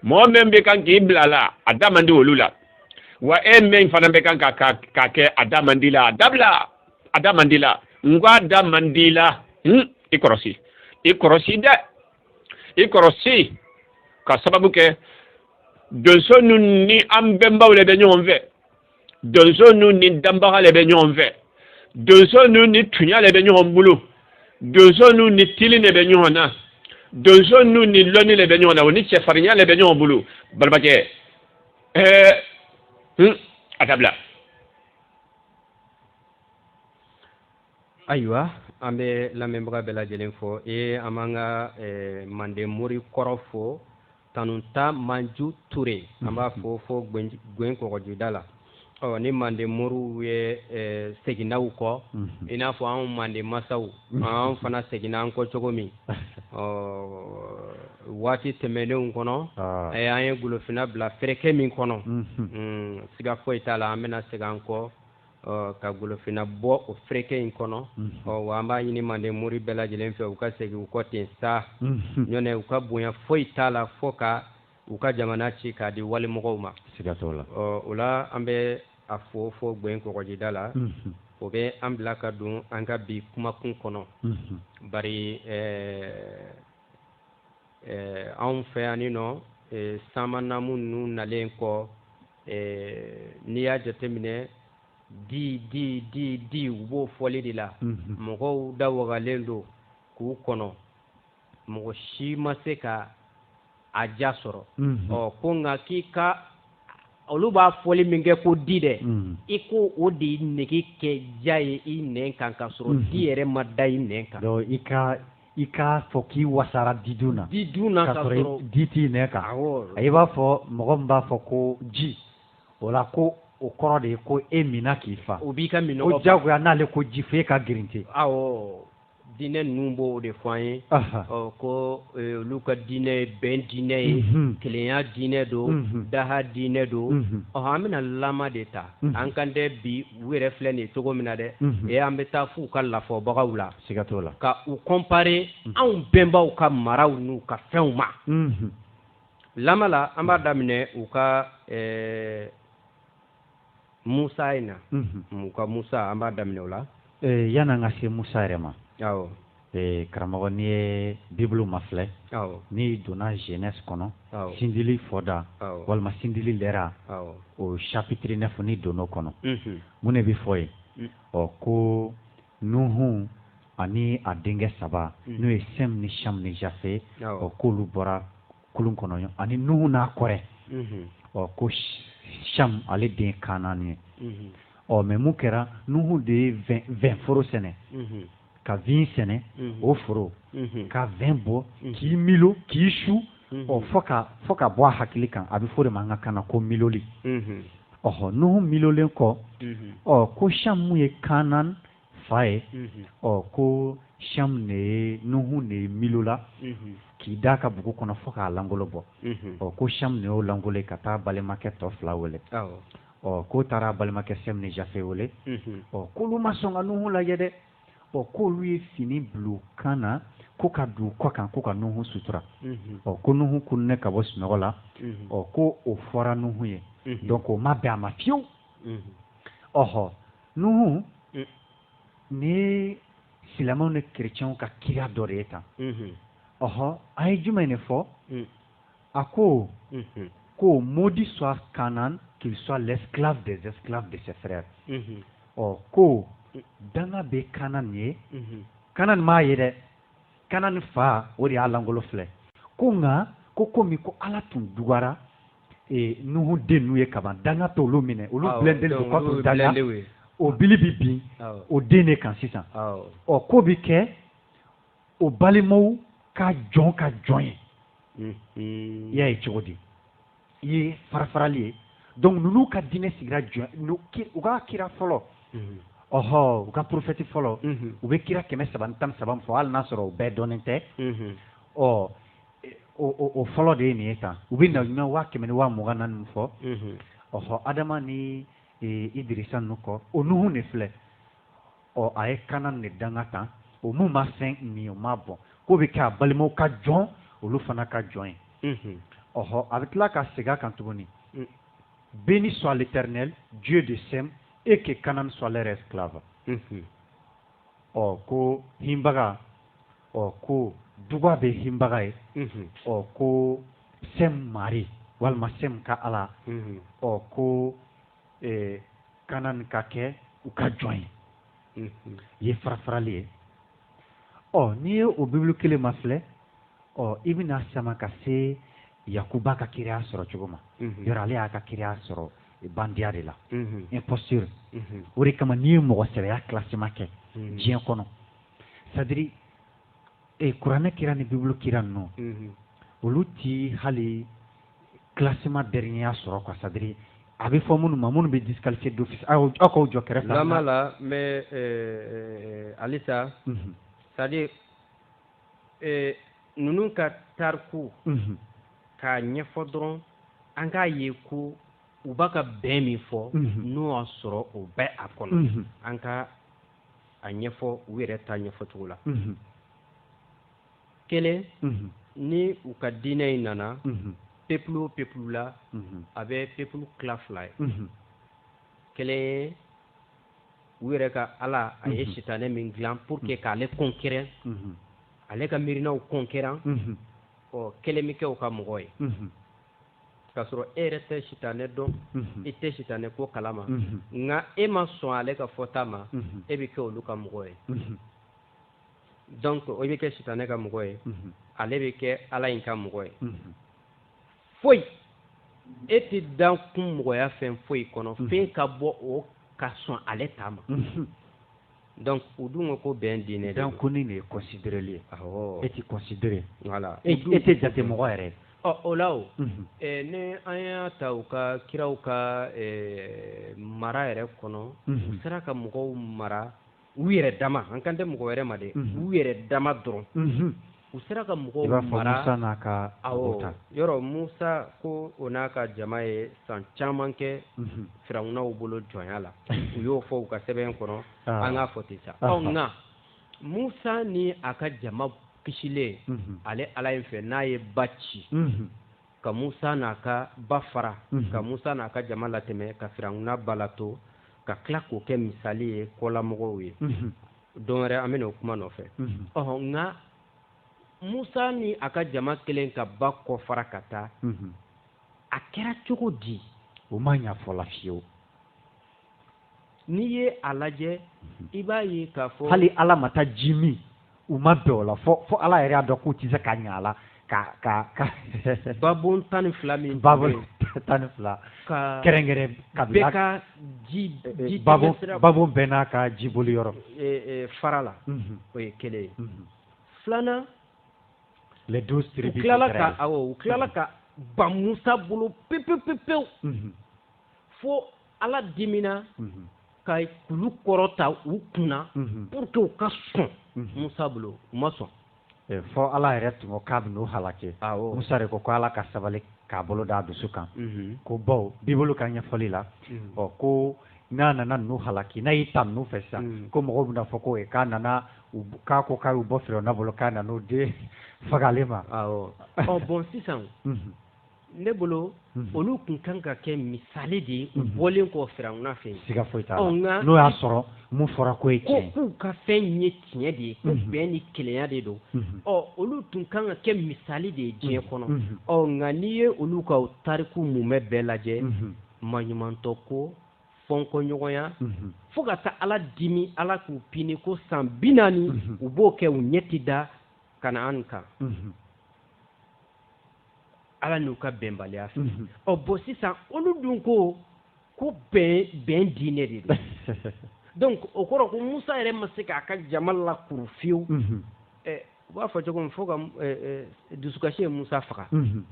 mɔgɔ min bɛ kan k'i bila a la a da man di olu la wa e min fana bɛ kan ka ka ka kɛ a da man d'i la a dabila a da man d'i la n ko a da man d'i la n i kɔrɔsi i kɔrɔsi dɛ i kɔrɔsi ka sababu kɛ donso ninnu ni an bɛnbaw le bɛ ɲɔgɔn fɛ donso ninnu ni danbaga le bɛ ɲɔgɔn fɛ donso ninnu ni tunya le bɛ ɲɔgɔn bolo donso ninnu ni tili le bɛ ɲɔgɔn na donso ninnu ni lɔnni le bɛ ɲɔgɔn na o ni cɛfarinya le bɛ ɲɔgɔn bolo balimakɛ ɛɛ a dabila ayiwa an bɛ lamɛnbaga bɛɛ lajɛlen fo ee an b'an ka eh, manden mori kɔrɔ fo tanunta manju ture an b'a fo fo gwɛn kɔgɔjida la ɔ ni manden moriw ye eh, seginna u kɔ mhm. i n'a fɔ anw manden masaw mhm. an fana seginna an kɔ cogo min ɔ waati tɛmɛnenw kɔnɔ ah. eh, an ye golofinna bila fereke min kɔnɔ mhm. mm, siga foyi t'a la an bɛna segin an kɔ ka golofinna bɔ o fereke in kɔnɔ ɔ wa an b'a ɲini manden mori bɛɛ lajɛlen fɛ u ka segin u kɔ ten sa ɲɔɛ u ka bonya foyi t'a la fo ka u ka jamana ci k'a di walimɔgɔw ma siga t'o la ɔ o la an bɛ a fo fo gwɛn kɔgɔjida la o bɛ an bila ka don an ka bi kumakun kɔnɔ bari ɛɛ anw fɛ yan nɔ ɛɛ samannamu ninnu nalen kɔ ɛɛ n'i y'a jateminɛ di di di di u b'o fɔli de la mhm. mɔgɔw da wagalen don k'u kɔnɔ mɔgɔ si ma se ka a ja sɔrɔ mhm. ɔ ko nka k'i ka olu b'a fɔli min kɛ ko di dɛ mhm. i ko o de nege kɛ ja ye i nɛn kan ka sɔrɔ di yɛrɛ ma da i nɛn kan i ka I k'a fɔ k'i wasara di dun na di dun na di t'i nɛn kan a i b'a fɔ mɔgɔ min b'a fɔ ko ji o la ko o kɔrɔ de ye ko e minna k'i fa o b'i ka minnɔgɔ jagoya n'ale ko ji fo e ka girinte awɔ dinɛ ninnu b'o de fɔ an ye ko olu ka dinɛ ye bɛn dinɛ ye kelenya dinɛ don daha dinɛ don ɔ an bɛna lama de ta an kan dɛ bi u yɛrɛ filɛ nin cogo min na dɛ ee an bɛ taa f'u ka lafɔbagaw la siga t'o la ka u comparer mhm. anw bɛnbaw ka maraw n'u ka fɛnw ma mhm. lama la an b'a daminɛ u ka eh, musa in na mhm. u ka musa an b'a daminɛ o la eh, yan'an ka se musa yɛrɛ ma awɔ eh, karamɔgɔ n'i ye bibulu mafilɛ n'i donna genèse kɔnɔ sindili fɔda walima sindili lɛra o chapitre neuf n'i donn'o kɔnɔ mun de bɛ fɔ yen mm. ɔ ko Nuhu ani a denkɛ saba mm. n'o ye sɛm ni cham ni jafe ɔ k'olu bɔra kulun kɔnɔ ani nuhu n'a kɔrɛ mm-hmm. ɔ ko cham ale den kanan ye mm-hmm. ɔ mais mun kɛra nuhu de ye vin foro sɛnɛ mm-hmm. ka vin sɛnɛ o foro ka vin bɔ k'i milo k'i su ɔ fo ka fo ka bɔ a hakili kan a bɛ fɔ de ma an ka kan na ko miloli ɔhɔ nuhu milolen kɔ ɔ ko cham min ye kanan fa ye ɔ ko cham ne ye nuhu ne ye milola k'i da ka bugu kɔnɔ fo k'a langolo bɔ ɔ ko cham ne y'o langolo ye ka taa balimakɛ tɔ fila wele ɔ k'o taara balimakɛ sɛm ni jafe wele ɔ k'olu ma sɔn ka nuhu lajɛ dɛ ɔ k'olu ye fini bila u kan na ko ka don u kɔ kan ko ka nuhu sutura mhm. ɔ ko nuhu kununen ka bɔ sunɔgɔ la mhm. ɔ ko o fɔra nuhu ye mhm. donc o ma bɛn a ma fiyewu ɔhɔ nuhu mm. nin silamɛw ni kerecɛnw ka kira dɔ de ye tan ɔhɔ an ye jumɛn de fɔ mm. a ko ko maudit soit kanan qu'il soit l'esclave des esclaves de ses frères ɔ ko danga bɛ kanan ye kanan m'a ye dɛ kanan fa o de y'a langolo filɛ ko nka ko komi ko ala tun dugara nuhu dennu ye kaban danga t'olu minɛ olu ah, blindélen don contre danga o bili bɛ bin ah. o den de kan sisan ɔ k'o bɛ kɛ o balimaw ka jɔn ka jɔn ye i y'a ye cogo di i ye farafarali ye donc ninnu ka diinɛ sigira jɔn u ka kira fɔlɔ ɔhɔ u ka prophète fɔlɔ u bɛ kira kɛmɛ saba ni tan ni saba min fɔ hali n'a sɔrɔ u bɛɛ dɔnnen tɛ ɔ o fɔlɔ de ye nin ye tan u bɛ na ɲuman waa kɛmɛ ni waa mugan ni naani min fɔ ɔhɔ adama ni idirisa ninnu kɔ o nuhu de filɛ ɔ a ye kanan ne danga tan o mun ma fɛn min o ma bɔn k'o bɛ kɛ a balimaw ka jɔn olu fana ka jɔn ye ɔhɔ a bɛ tila ka segin a kan tuguni mm. béni soit l'éternel dieu de sem et que kanan soit leur esclave ɔ ko hinbaga ɔ ko duga bɛ hinbaga ye ɔ ko sɛm mari walima sɛm ka ala ɔ ko ɛɛ kanan ka kɛ u ka jɔn ye mhm. i ye farafarali ye ɔ n'i ye o bibulu kelen ma filɛ ɔ i bɛna sama ka se yakuba ka kiraya sɔrɔ cogo ma mhm. yɔrɔ ale y'a ka kiraya sɔrɔ bandiya de la mhm. imposture o de kama n'i ye mɔgɔ sɛbɛya classement kɛ diɲɛ kɔnɔ c'est à dire kuranɛ kira ni bibulu kira ninnu olu ti hali classement dernier ya sɔrɔ quoi c'est à dire a bɛ fɔ minnu ma minnu bɛ disqualifié d'office aw aw k'aw jɔ kɛrɛfɛlama la mais halisa. Mhm. c'est à dire eh, ninnu ka tariku. Mhm. k'a ɲɛfɔ dɔrɔn an k'a ye ko u b'a ka bɛn min fɔ. Mhm. n'o y'a sɔrɔ o bɛ a kɔnɔ. an ka a ɲɛfɔ u yɛrɛ ta ɲɛfɔ cogo la. kelen ni u ka diinɛ in nana peuple o peuple la a bɛ peuple tila fila ye kelen ye u yɛrɛ ka ala a ye sitanɛ min dilan pour que k'ale concurrent ale ka miirinaw concurrent ɔ kelen bɛ kɛ u ka mɔgɔ ye k'a sɔrɔ e yɛrɛ tɛ sitanɛ dɔn i tɛ sitanɛ ko kalama nka e ma sɔn ale ka fɔta ma e bɛ kɛ olu ka mɔgɔ ye donc o bɛ kɛ sitanɛ ka mɔgɔ ye ale bɛ kɛ ala in ka mɔgɔ ye foyi e tɛ dan kun mɔgɔya fɛn foyi kɔnɔ fɛn ka bɔ o ka sɔn ale ta ma donc u dun ko ko bɛn diinɛ dan ko ni de ye considéreli ye awɔ e tɛ considéré voilà e tɛ jate mɔgɔ yɛrɛ ɔ o la o ni an y'a ta u ka kiraw ka mara yɛrɛ kɔnɔ u sera ka mɔgɔw mara u yɛrɛ dama an kan tɛ mɔgɔ wɛrɛ ma dɛ u yɛrɛ dama dɔrɔn u sera ka mɔgɔw mara musa n'a ka yɔrɔ musa ko o n'a ka jama ye san caman kɛ firawunaw bolo jɔnya la u y'o fɔ u ka sɛbɛn kɔnɔ an k'a fɔ ten sa nka musa ni a ka jama kisilen ale ala in fɛ n'a ye ba ci ka musa n'a ka ba fara ka musa n'a ka jama latɛmɛ ka firawuna ba la to ka tila k'o kɛ misali ye kɔlamɔgɔw ye don wɛrɛ an bɛna o kuma nɔfɛ ɔɔ nka musa ni a ka jama kɛlen ka ba kɔ fara ka taa a kɛra cogo di o ma ɲafɔla fiyewu n'i ye a lajɛ i b'a ye k'a fɔ hali ala ma taa ji min u ma bɛn o la fɔ fɔ ala yɛrɛ y'a dɔn k'u tɛ se ka ɲɛ a la ka ka ka babon tan ni fila min babon tan ni fila ka kɛrɛnkɛrɛn ka bɛɛ ka ji ji babon babon bɛɛ n'a ka jiboli yɔrɔ fara la o ye kelen ye filanan les douze tribus u tilala ka awɔ u tilala ka ban Musa bolo pewu pewu pewu fo ala dimina ka kulu kɔrɔta u kunna pour que u ka sɔn musa bolo u ma sɔn fɔ ala yɛrɛ tun ko k'a bɛ n'u halaki musa de ko ko ala ka sabali k'a bolo d'a dusu kan ko baw bibulu ka ɲɛfɔli la ɔ ko n'a nana n'u halaki n'a y'i ta n'u fɛ sisan ko mɔgɔw bɛna fɔ ko k'a nana k'a ko k'a y'u bɔ firawuna bolo k'a nana n'o den fagalen ma bɔn sisan ne bolo mhm. olu tun kan ka kɛ misali de ye u mhm. bɔlen kɔ firawuna fɛ siga foyi t'a la n'o y'a sɔrɔ mun fɔra ko ye tiɲɛ k'u ka fɛn ye tiɲɛ de ye ko mhm. bɛn ni kelenya de don ɔ olu tun kan ka kɛ misali de ye diɲɛ kɔnɔ ɔ nka n'i ye olu ka tariku mumɛ bɛɛ lajɛ maɲumantɔ ko fɔnkɔɲɔgɔnya fo ka taa ala dimi ala k'u pini ko san bi naani u b'o kɛ u ɲɛ tɛ da Kanaan kan ala n'u ka bɛnbaliya fɛ mhm. ɔ bon sisan olu dun ko ko bɛn bɛn diinɛ de don donc o kɔrɔ ko musa yɛrɛ ma se k'a ka jama lakuru fiyewu mhm. u b'a fɔ cogo min fo ka dusukasi ye musa faga mhm.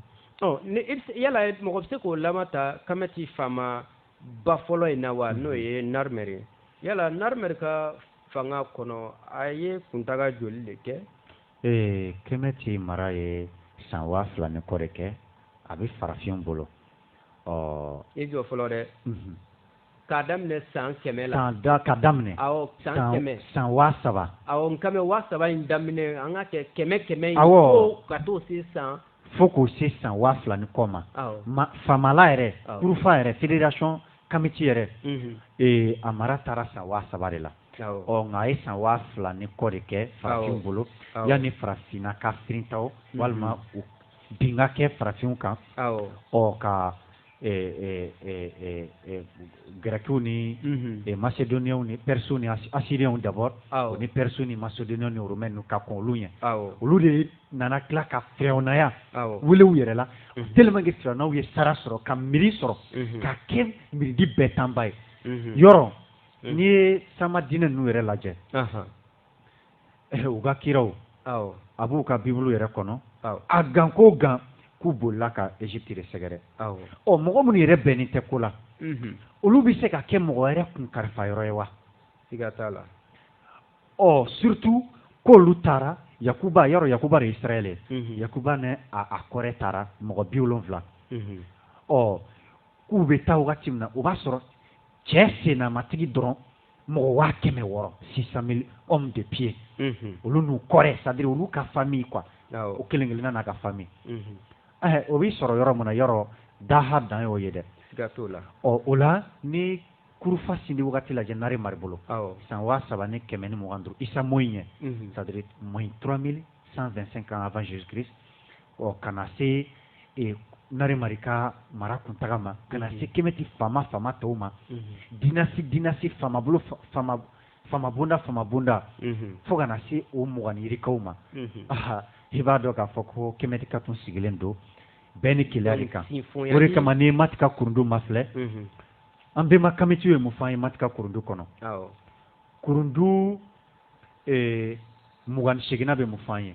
ɔ ni yala mɔgɔ bɛ se k'o lama ta kamɛti faamaba fɔlɔ in na wa n'o ye Narmer ye yala Narmer ka fanga kɔnɔ a ye kuntaga joli de kɛ ee kɛmɛti mara ye san waa fila ni kɔ de kɛ a bɛ farafin bolo ɔ i jɔ fɔlɔ dɛ mhm. k'a daminɛ san kɛmɛ la san da ka daminɛ awɔ san kɛmɛ san waa saba awɔ n kɛmɛ waa saba in daminɛ an ka kɛ kɛmɛ kɛmɛ in awɔ ka t'o se san fo k'o se san waa fila ni kɔ ma ma famala yɛrɛ kurufa yɛrɛ fédération kamiti yɛrɛ mhm. ee a mara taara san waa saba de la ɔ nka a ye san waa fila ni kɔ de kɛ farafinw bolo yanni farafinna ka firinta o mhm. walima u bin ka kɛ farafinw kan ɔ ka gɛrɛkiw ni mhm. macédoniens ni pɛrisiw ni assyriens d'abord ni pɛrisiw ni macédoniens ni romains ka kɔn olu ɲɛ olu de nana tila ka firawunaya wele u yɛrɛ la mhm. tellement que firawunaw ye sara sɔrɔ ka miiri sɔrɔ ka kɛ miiridi bɛɛ tanba ye yɔrɔ n'i ye sama diinɛ ninnu yɛrɛ lajɛ eh, u ka kiraw a b'u ka bibulu yɛrɛ kɔnɔ a gan ko gan k'u bolila ka Égypte de sɛgɛrɛ ɔ mɔgɔ minnu yɛrɛ bɛnnen tɛ ko la mhm. olu bɛ se ka kɛ mɔgɔ wɛrɛ kun kalifa yɔrɔ ye wa siga t'a la ɔ surtout k'olu taara Yakuba yɔrɔ Yakuba de ye Israɛl ye mhm. Yakuba ni a kɔrɛ taara mɔgɔ bi wolonwula mhm. ɔ k'u bɛ taa wagati min na o b'a sɔrɔ cɛ sennamatigi dɔrɔn mɔgɔ waa kɛmɛ wɔɔrɔ six cent mille hommes de pied mhm. olu n'u kɔrɛ c'est à dire olu ka famille quoi o kelen kelenna n'a ka famille mhm. eh, o bɛ sɔrɔ yɔrɔ min na yɔrɔ daha dan y'o ye dɛ siga t'o la ɔ o la n'i kurufa sindi wagati lajɛ nare mari bolo san waa saba ni kɛmɛ ni mugan duuru isa moyi ɲɛ c'est à dire moins trois mille cent vingt cinq ans avant jésus christ ɔ ka na se e, narimari ka mara kuntaga ma ka na se kemeti faama faama tɔw ma dynastie dynastie faamabolo faama faama bonda faama bonda fo ka na se o mugan ni yirikaw ma aha i b'a dɔn k'a fɔ ko kemetikaw tun sigilen don bɛn ni kelenya de kan o de kama n'i ye mati ka kurundu mafilɛ an bɛnba kamitiw ye mun fɔ an ye mati ka kurundu kɔnɔ kurundu e, mugan ni seginnan bɛ mun fɔ an ye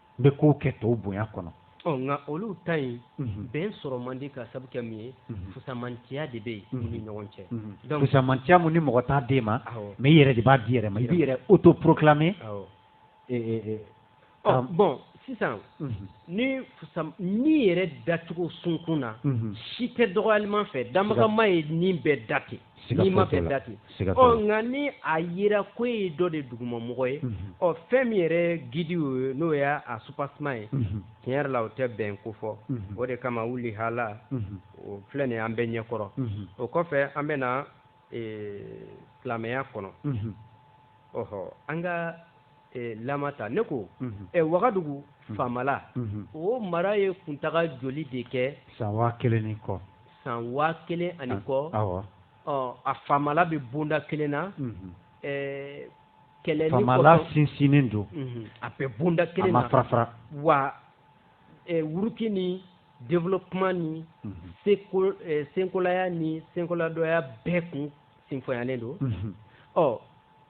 n bɛ kow kɛ tɔw bonya kɔnɔ ɔ nka olu ta in mhm. bɛn sɔrɔ man di ka sabu kɛ min ye mhm. fusamantiya de bɛ yen mhm. u ni ɲɔgɔn cɛ donc fusamantiya min ni mɔgɔ t'a d'e ma mais i yɛrɛ de b'a d'i yɛrɛ ma i b'i yɛrɛ autoproclamer e, e, e, ɔ bon sisan ni fusa ni yɛrɛ dacogo sunkun na si tɛ dɔgɔyalima fɛ danbaga ma ye ni bɛɛ da ten nima bɛɛ da ten ɔ nka ni a yera ko e ye dɔ de dugumamɔgɔ ye mhm. ɔ fɛn min yɛrɛ gidi ye n'o y' a soubassement ye mhm. tiɲɛ yɛrɛ la o tɛ bɛn kofɔ mhm. o de kama voilà o filɛ nin an bɛɛ ɲɛ kɔrɔ o kɔfɛ an bɛ na e, silamɛya kɔnɔ ɔhɔ an ka e, lama ta ne ko e, wagadugu faamala o mara ye kuntaga joli de kɛ san waa kelen ni kɔ san waa kelen ani kɔ a faamala bɛ bonda kelen na kɛlɛ ni sinsin don mhm. a bɛ bonda kelen fara wa wuruki ni développement ni mhm. senkolaya ni senkoladɔya bɛɛ kun sinfonyalen don mhm. ɔ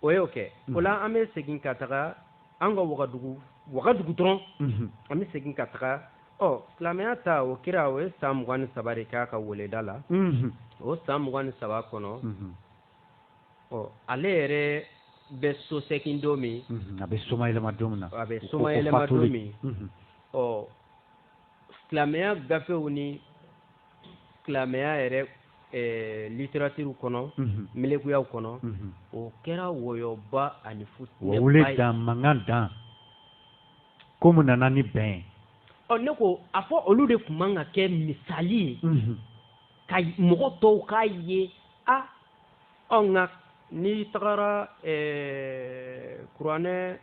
o y'o kɛ o la an bɛ segin ka taga an ka wagadugu wagadugu dɔrɔn an bɛ segin ka taga Ɔ silamɛya ta o kira o ye san mugan ni saba de k'a ka weleda la o san mugan ni saba kɔnɔ ɔ ale yɛrɛ bɛ so segin don min a bɛ soma yɛlɛma don min na a bɛ soma yɛlɛma don min ɔ silamɛya gafew ni silamɛya yɛrɛ Eh, littérature kɔnɔ mhm. melekuyaw kɔnɔ mhm. o kɛra wɔyɔba ani fu wele dan mankan dan ko mun nana ni bɛn ye ɔ ne ko a fɔ olu de tun man ka kɛ misali ye mhm. ka mɔgɔ tɔw k'a ye a ɔ nka n'i tagara eh, kuranɛ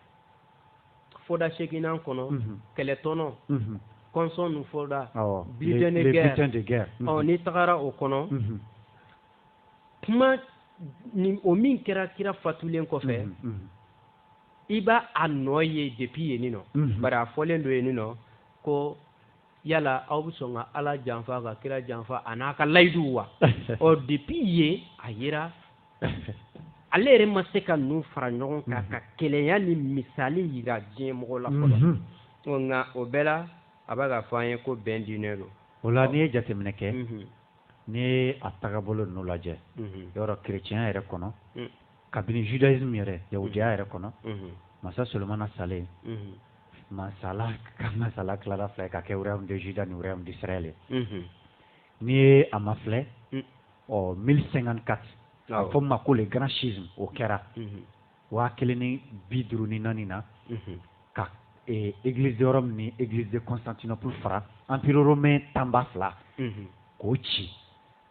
fɔda seginnan kɔnɔ mhm. kɛlɛtɔnɔ mhm. kɔnsɔn nu fɔda butin de guerre ɔ n'i tagara o kɔnɔ kuma o min kɛra kira fatulen kɔfɛ i b'a a nɔ ye depuis yen nin nɔ mhm. bari a fɔlen don yen nin nɔ ko yala aw bɛ sɔn ka ala janfa ka kira janfa a n'a ka layiduw wa ɔ depuis yen a yera ale yɛrɛ ma se ka ninnu fara ɲɔgɔn kan mhm. ka kelenya ni misali yira diɲɛ mɔgɔ la fɔlɔ mhm. nka o bɛɛ la a bɛ k'a fɔ an ye ko bɛn diinɛ don o la n'i ye jateminɛ kɛ n'i ye a tagabolo ninnu lajɛ yɔrɔ kerecɛnya yɛrɛ kɔnɔ kabini judaisme yɛrɛ yahudiya yɛrɛ kɔnɔ masa solomana salen masala ka masala tilara fila ka kɛ royaume de juda ni royaume d'israël ye n'i ye a mafilɛ ɔ 1054 a fɔ ma ko le grand schisme o kɛra waa kelen ni bi duuru ni naani na ka église de rome ni église de constantinople fara empire romain tanba fila k'o ci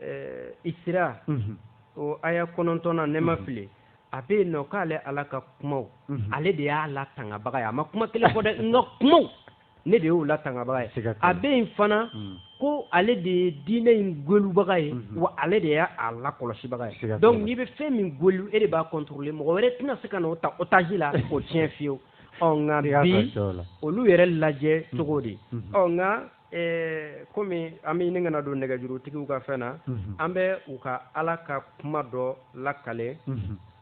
ɛɛ isira o aya kɔnɔntɔn na ne ma fili a bɛ yen nɔ k'ale ala ka kumaw ale de y'a latangabaga ye a ma kuma kelen fɔ dɛ n ka kumaw ne de y'o latangabaga ye a bɛ yen fana ko ale de ye diinɛ in gelubaga ye wa ale de y'a lakɔlɔsibaga ye donc n'i bɛ fɛn min gelu e de b'a contrôler mɔgɔ wɛrɛ tɛna se ka n'o ta otage la k'o tiɲɛ fiyewu ɔ nka bi olu yɛrɛ lajɛ cogo di ɔ nka Ɛɛ kɔmi an bɛ ɲini ka na don nɛgɛjurutigiw ka fɛn na an bɛ u ka ala ka kuma dɔ lakale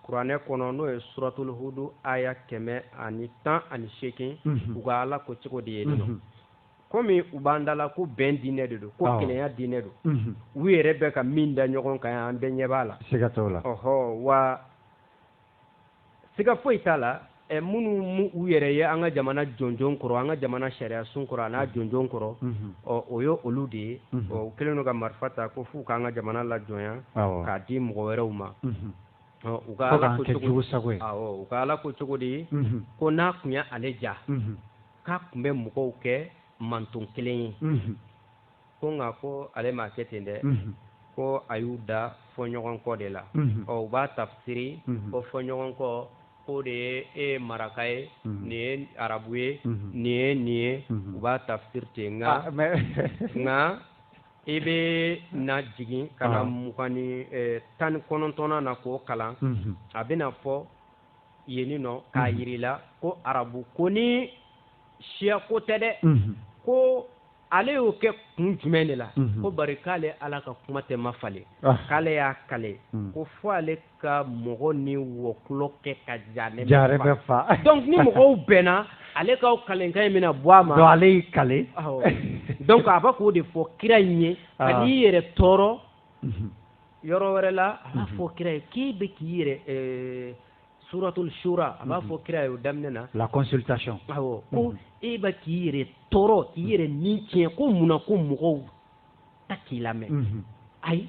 kuranɛ kɔnɔ n'o ye suratulu hudu aya kɛmɛ ani tan ani seegin u ka ala ko cogo di yen nin nɔ kɔmi u b'an da la ko bɛn diinɛ de don ko kelenya diinɛ don u yɛrɛ bɛ ka min da ɲɔgɔn kan an bɛɛ ɲɛ b'a la ɔɔ wa siga foyi t'a la minnu mu u yɛrɛ ye an ka jamana jɔnjɔn kɔrɔ an ka jamana sariya sun kɔrɔ a n'a jɔnjɔn kɔrɔ ɔ o ye olu de ye u kɛlen don ka marifa ta ko f'u k'an ka jamana lajɔnya k'a di mɔgɔ wɛrɛw ma u ka ala ko cogo di ko n'a tun ye ale diya k'a tun bɛ mɔgɔw kɛ manton kelen ye ko nka ko ale m'a kɛ ten dɛ ko a y'u da fɔɲɔgɔnkɔ de la ɔ u b'a tafsiri ko fɔɲɔgɔnkɔ ko de ye e maraka ye nin ye arabu ye nin ye nin ye u b'a tafsiri ten nka ah, nka i bɛ na jigin ka na ah. mugan ni eh, tan ni kɔnɔntɔnnan na k'o kalan a bɛna fɔ yen nɔ k'a yir'i la ko arabu ko ni siya ko tɛ dɛ ko ale y'o kɛ kun jumɛn de la ko bari k'ale ala ka kuma tɛ mafalen k'ale y'a kale ko fo ale ka mɔgɔ ni wɔkulɔ kɛ ka jahanama fa donc ni mɔgɔw bɛnna ale ka kalekan in bɛna bɔ a ma ale y'i kale donc a bɛ k'o de fɔ kira in ye kan'i yɛrɛ tɔɔrɔ yɔrɔ wɛrɛ la a fɔ kira ye k'i bɛ k'i yɛrɛ suratul shura a b'a mhm. fɔ kira ye o daminɛ na la consultation awɔ ko mhm. e ba k'i yɛrɛ tɔɔrɔ k'i mhm. yɛrɛ ni tiɲɛ ko mun na ko mɔgɔw ta k'i lamɛn ayi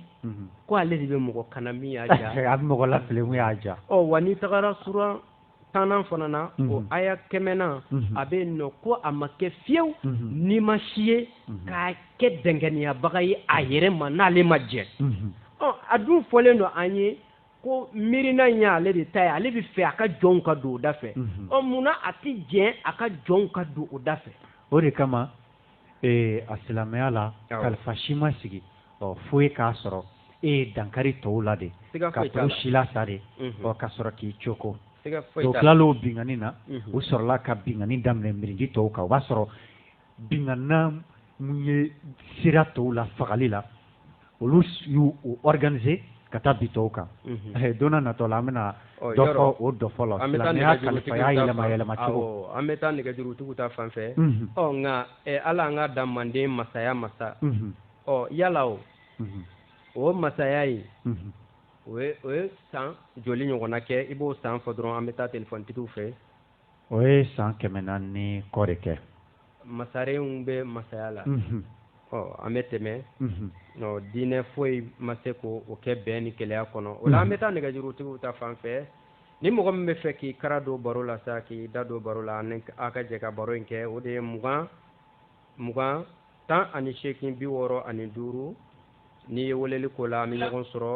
ko ale de bɛ mɔgɔ kanda min y'a ja a bɛ mɔgɔ lafili min y'a ja ɔ wa n'i tagara sura tannan fana na o aya kɛmɛnan a bɛ yen nɔ ko a ma kɛ fewu nima si ye ka kɛ dɛnkɛnɛyabaga ye a yɛrɛ ma n'ale ma jɛn ɔ a dun fɔlen don an ye ko miirina in y'ale de ta ye ale bɛ fɛ a ka jɔnw ka don o da fɛ mhm. ɔ munna a tɛ jɛn a ka jɔnw ka don o da fɛ o de kama ee a silamɛya la kalifa si ma sigi ɔ fo ye k'a sɔrɔ e ye dankari tɔw la de ka tɔw silasa de mhm. ɔ ka sɔrɔ k'i coko o tilal'o binkanni na mhm. u sɔrɔla ka binkanni daminɛ mirindi tɔw kan o b'a sɔrɔ binkanna min ye sira tɔw la fagali la olu y'u u organiser ka taa bin tɔw kan mhm. eh, don na natɔ la an bɛna oh, dɔ fɔ o dɔfɔ la silamɛya kalifaya yɛlɛma yɛlɛma cogo an bɛ taa nɛgɛjurutigiw ta fan fɛ mhm. ɔ oh, nka eh, ala an ka dan manden masaya masa ɔ mhm. oh, yala o o masaya ye o ye san joli ɲɔgɔnna kɛ i b'o san fɔ dɔrɔn an bɛ taa telefɔnitigiw fɛ o ye san kɛmɛ naani ni kɔ de kɛ masarenw bɛ masaya la ɔ an bɛ tɛmɛ diinɛ foyi ma se k'o kɛ bɛn ni kelenya kɔnɔ o la an bɛ taa nɛgɛjurutigiw ta fan fɛ ni mɔgɔ min bɛ fɛ k'i kara don baro la sa k'i da don baro la ni an ka jɛ ka baro in kɛ o de ye mugan mugan tan ani seekin bi wɔɔrɔ ani duuru n'i ye weleli k'o la an bɛ ɲɔgɔn sɔrɔ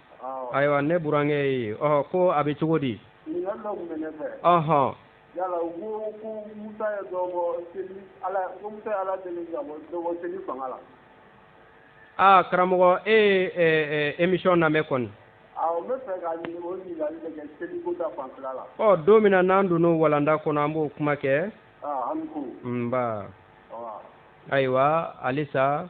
ayiwa ne burankɛ ye ɔ ko a bɛ cogo di ɔhɔn yala u ko ko musa ye dɔ bɔ seli ala ko musa ye ala deli ka bɔ dɔ bɔ seli fanga la aa karamɔgɔ e ye ɛ ɛ émission lamɛn kɔni awɔ n bɛ fɛ ka ɲini o ɲininkali de kɛ seli ko ta fanfɛla la ɔ don min na n'an donn'o walanda kɔnɔ an b'o kuma kɛ aa an ni ko nba ayiwa halisa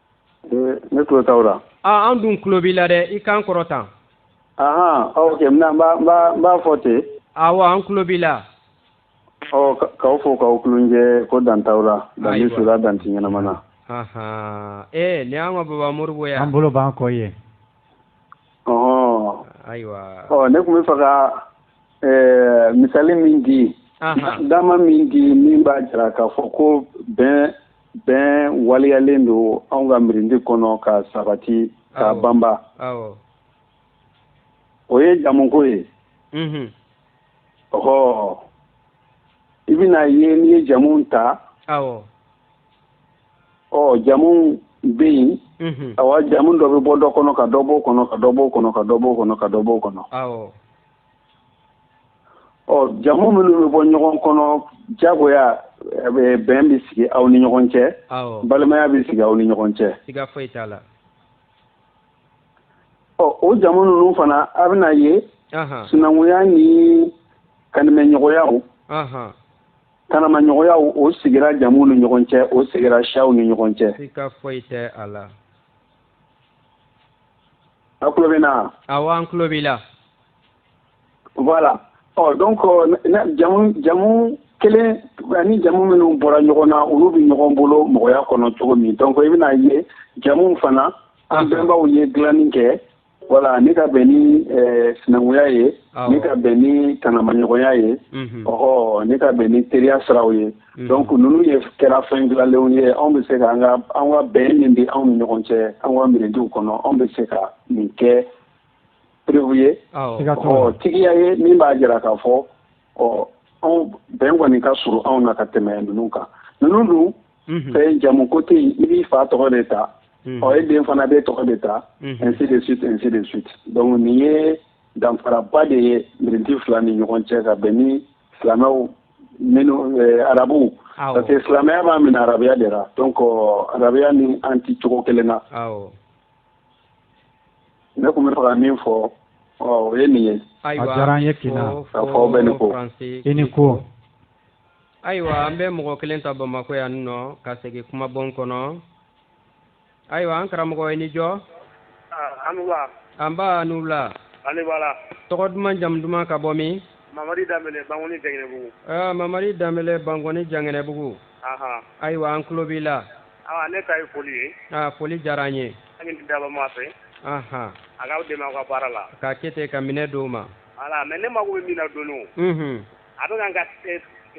Ne tulo t'aw la. Aa an dun tulo b'i la dɛ, i kan kɔrɔta. Ahan ok n b'a fɔ ten. Awɔ an tulo b'i la. Ɔ k'aw fo k'aw kulunjɛ ko dan t'aw la. Ayiwa. Dan bɛ su la dan tɛ ɲɛnama na. Ahan ee nin y'an ka baba Moribo ye wa? An bolo b'an kɔ i ye. Ɔhɔn. Ayiwa. Ɔ ne tun bɛ fɛ ka ɛɛ misali min di. Ahan. Dama min di min b'a jira k'a fɔ ko bɛn bɛn waleyalen don anw ka mirindi kɔnɔ ka sabati ka banba o ye jamuko ye mhm. ɔhɔ i bɛn'a ye n'i ye jamuw ta ɔ jamuw bɛ yen mhm. awa jamu dɔ bɛ bɔ dɔ kɔnɔ ka dɔ b'o kɔnɔ ka dɔ b'o kɔnɔ ka dɔ b'o kɔnɔ ka dɔ b'o kɔnɔ ɔ jamu minnu bɛ bɔ ɲɔgɔn kɔnɔ jagoya bɛn bɛ sigi aw ni ɲɔgɔn cɛ balimaya bɛ sigi aw ni ɲɔgɔn cɛ ɔ o jamu ninnu fana a bɛna ye sinankunya ni kanimɛɲɔgɔnyaw tanamaɲɔgɔnyaw o sigira jamu ni ɲɔgɔn cɛ o sigira siyaw ni ɲɔgɔn cɛ A tulo bɛ n na? Awɔ an tulo b'i la. Voilà ɔ donc jamu jamu kelen ani jamu minnu bɔra ɲɔgɔn na olu bɛ ɲɔgɔn bolo mɔgɔya kɔnɔ cogo min donc i bɛna ye jamuw fana an bɛnbaw ye dilanni kɛ voilà ni ka bɛn ni sinankunya ye ni ka bɛn ni tanamaɲɔgɔnya ye ɔhɔ ni ka bɛn ni teriya siraw ye. Mm-hmm. donc ninnu ye kɛra fɛn dilanlenw ye anw bɛ se ka an ka an ka bɛn min bɛ anw ni ɲɔgɔn cɛ an ka mirindiw kɔnɔ anw bɛ se ka nin kɛ preuve ye ɔ tigiya ye min b'a jira k'a fɔ ɔ anw bɛn kɔni ka surun anw na ka tɛmɛ ninnu kan ninnu dun mm-hmm. fɛn jamu ko tɛ yen i b'i fa tɔgɔ de ta mm-hmm. ɔ e den fana b'i tɔgɔ de ta ainsi de suite ainsi de suite donc nin ye danfaraba de ye mirindi fila ni ɲɔgɔn cɛ ka bɛn ni silamɛw minnu eh, arabuw parce que silamɛya b'a minɛ arabuya de la donc arabuya ni an ti cogo kelen na ne tun bɛ fɛ ka min fɔ o ye nin ye a diyara an ye kina ka fɔ bɛ ni ko i ni ko ayiwa an bɛ mɔgɔ kelen ta bamakɔ yan nɔ ka segin kumabon kɔnɔ Ayiwa an karamɔgɔ i ni jɔ. Aa a' ni wula. Anba a' ni wula. K'ani wala. Tɔgɔ duman jamu duman ka bɔ min? Mamadi Danbɛlɛ Bankɔni Jangɛnɛbugu. Aa Mamadi Danbɛlɛ Bankɔni Jangɛnɛbugu. Anhan. Ayiwa an tulo b'i la. Aa ne ta ye foli ye. Aa foli diyara an ye. An b'a ɲini Dabaa Ma fɛ. Anhan. A k'aw dɛmɛ aw ka baara la. K'a kɛ ten ka minɛ d'o ma. Voilà mais ne mako bɛ min na dɔɔnin o. Unhun. a bɛ ka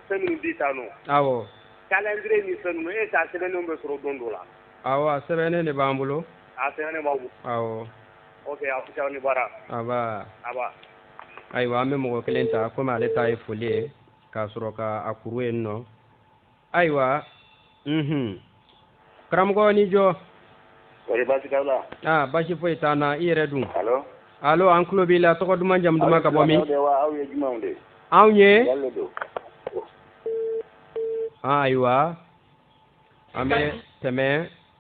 fɛn minnu di tan nɔ calendrier ni fɛn ninnu e ka sɛbɛnnen bɛ sɔrɔ don dɔ la awɔ a sɛbɛnnen de b'an bolo a sɛbɛn aw ni baara ayiwa an bɛ mɔgɔ kelen ta kɔmi ale ta ye foli ye k'a sɔrɔ k'a kuru yen nɔ ayiwa unhun karamɔgɔ aw ni jɔ kɔri baasi t'aw la aa baasi foyi t'an na i yɛrɛ dun alo alo an tulo b'i la tɔgɔ duman jamu duman ka bɔ min aw ye jumɛnw de anw ye ayiwa an bɛ tɛmɛ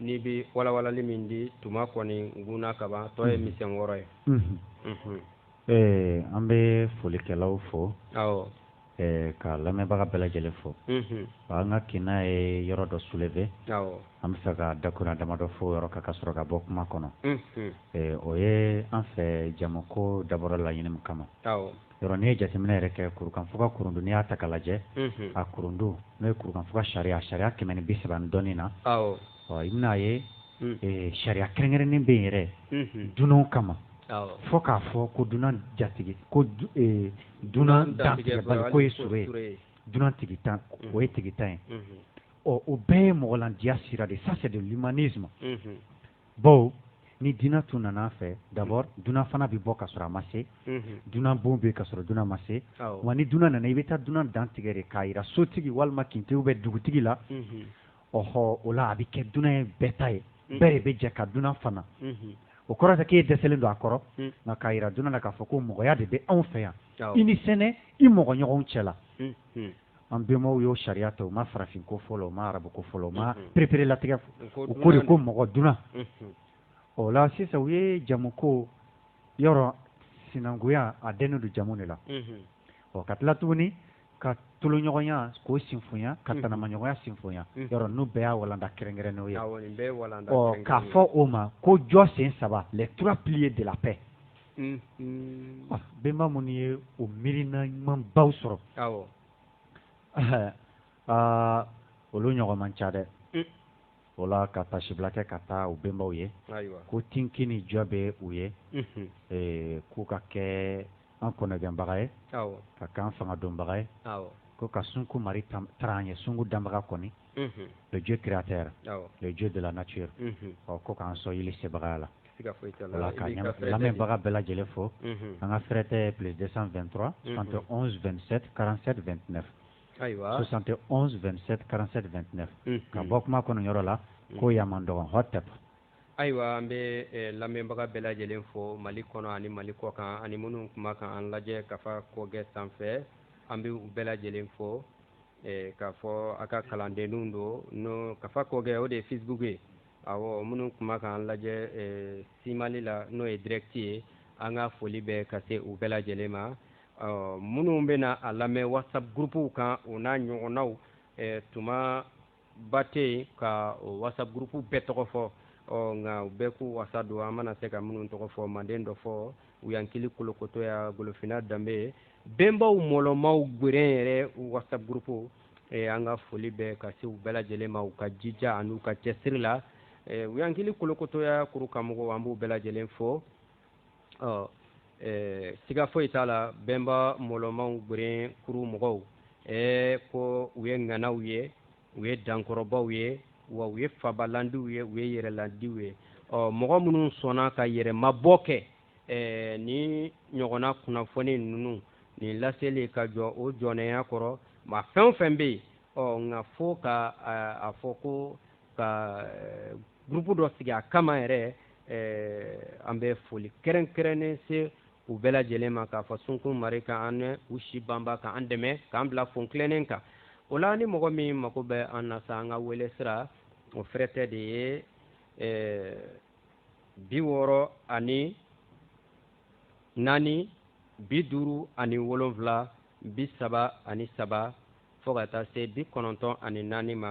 n'i bɛ walawalali min di tuma kɔni gunna kaban tɔ ye misɛn wɔɔrɔ ye ɛɛ an bɛ folikɛlaw fo ka lamɛnbaga bɛɛ lajɛlen fo an ka kinna ye yɔrɔ dɔ soulever an bɛ fɛ ka dakun damadɔ fɔ yɔrɔ ka ka sɔrɔ ka bɔ kuma kɔnɔ o ye an fɛ jamuko dabɔra laɲini min kama yɔrɔ n'i ye jateminɛ yɛrɛ kɛ kurukanfuga kurundu n'i y'a ta k'a lajɛ a kurundu n'o ye kurukanfuga sariya sariya kɛmɛ ni bi saba ni dɔɔnin na ɔ i bɛn'a ye sariya kɛrɛnkɛrɛnnen bɛ yen yɛrɛ dunanw kama fo k'a fɔ ko dunan jatigi ko dunan dantigɛbali ko ye sɔrɔ ye dunan tigintan o ye tigintan ye ɔ o bɛɛ ye mɔgɔlandiya sira de ça c'est de l'humanisme bon ni dunan tun nana an fɛ d'abord dunan fana bɛ bɔ ka sɔrɔ a ma se dunan bon bɛ yen ka sɔrɔ dunan ma se wa ni dunan nana i bɛ taa dunan dantigɛ de k'a jira sotigi walima kintigi ou bien dugutigi la ɔhɔ o la a bɛ kɛ dunan ye bɛɛ ta ye bɛɛ de bɛ jɛ ka dunan fana o kɔrɔ tɛ k'e dɛsɛlen don a kɔrɔ nka k'a jira dunan na k'a fɔ ko mɔgɔya de bɛ anw fɛ yan i ni sɛnɛ i mɔgɔ ɲɔgɔnw cɛ la an bɛnbaw y'o sariya ta u ma farafin ko fɔlɔ u ma arabu ko fɔlɔ u ma pereperelatigɛ u ko de ko mɔgɔ dunan o la sisan u ye jamuko yɔrɔ sinankunya a dɛnnen don jamu de la ɔ ka tila tuguni ka toloɲɔgɔnya k'o sinfoya ka tanamaɲɔgɔnya sinfoya yɔrɔ n'u bɛɛ y'a walanda kɛrɛnkɛrɛnnenw ye k'a fɔ o ma ko jɔ sen saba les trois piliers de la paix bɛnba minnu ye o miirina ɲumanbaw sɔrɔ aa olu ɲɔgɔn man ca dɛ o la ka tasibila kɛ ka taa u bɛnbaw ye ko tinki ni jɔ bɛ u ye k'u ka kɛ an kɔnɔgɛnbaga ye ka kɛ an fanga donbaga ye ko ka sunku mari taara an ye sunku danbaga kɔni le dieu créateur le dieu de la nature ɔ ko k'an sɔn yeli sebagaya la voilà ka lamɛnbaga bɛɛ lajɛlen fo an ka fɛrɛtɛ plus 223 71 27 47 29 ayiwa 71 27 47 29 ka bɔ kuma kɔnɔ yɔrɔ la ko yaman dɔgɔn hotep ayiwa an bɛ lamɛnbaga bɛɛ lajɛlen fo mali kɔnɔ ani mali kɔkan ani minnu kuma kan an lajɛ kafa kɔgɛ sanfɛ an bɛ u bɛɛ lajɛlen fo eh, k'a fɔ a ka kalandenninw don n'o kafa kɔgɛ o de ye facebook ye awɔ minnu tun b'a k'an lajɛ eh, simali la n'o ye direct ye an ka foli bɛ ka se u bɛɛ lajɛlen ma minnu bɛna a lamɛn whatsapp groupew kan o n'a ɲɔgɔnnaw eh, tuma ba tɛ yen ka o whatsapp groupe bɛɛ tɔgɔ fɔ ɔ nka u bɛɛ k'u wasa don an mana se ka minnu tɔgɔ fɔ manden dɔfɔ uyankili kolokotoya golofina danbe bɛnbaw mɔlɔmaw gweren yɛrɛ whatsapp groupe e, an ka foli bɛ ka se u bɛɛ lajɛlen ma u ka jija an'u ka cɛsiri la e, uyankili kolokotoya kuru kan mɔgɔw an b'u bɛɛ lajɛlen fo ɔ ɛɛ siga foyi t'a la bɛnba mɔlɔmaw gweren kuru mɔgɔw ɛɛ ko u ye ŋanaw ye u ye dankɔrɔbaw ye wa u ye fabalandiw ye u ye yɛrɛlandiw ye ɔ mɔgɔ minnu sɔnna ka yɛrɛmabɔ kɛ ɛɛ ni ɲɔgɔnna kunnafoni ninnu nin laseli ka jɔ o jɔnɛya kɔrɔ ma fɛn o fɛn bɛ yen ɔ nka fo ka a fɔ ko ka groupe dɔ sigi a kama yɛrɛ eh, an bɛ foli kɛrɛnkɛrɛnnen se u bɛɛ lajɛlen ma k'a fɔ sunkun mari ka an n'u si banba ka an dɛmɛ k'an bila fon tilennen kan o la ni mɔgɔ min mago bɛ an na sa an ka wele sira o fɛrɛtɛ de ye eh, bi wɔɔrɔ ani naani bi duuru ani wolonfila bi saba ani saba fo ka taa se bi kɔnɔntɔn ani naani ma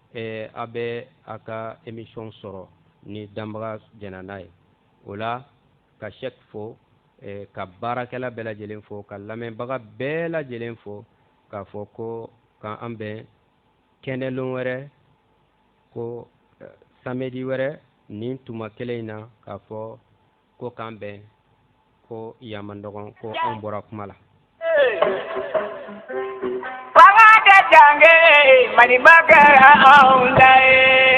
eh, a bɛ a ka émission sɔrɔ ni danbaga jɛnna n'a ye o la ka cheick fo eh, ka baarakɛla bɛɛ lajɛlen fo ka lamɛnbaga bɛɛ lajɛlen fo k'a fɔ ko ka an bɛn kɛnɛlon wɛrɛ ko eh, samedi wɛrɛ nin tuma kelen in na k'a fɔ ko k'an bɛn ko yan man dɔgɔn ko anw bɔra kuma la fanga tɛ dange maliba kɛra anw ta ye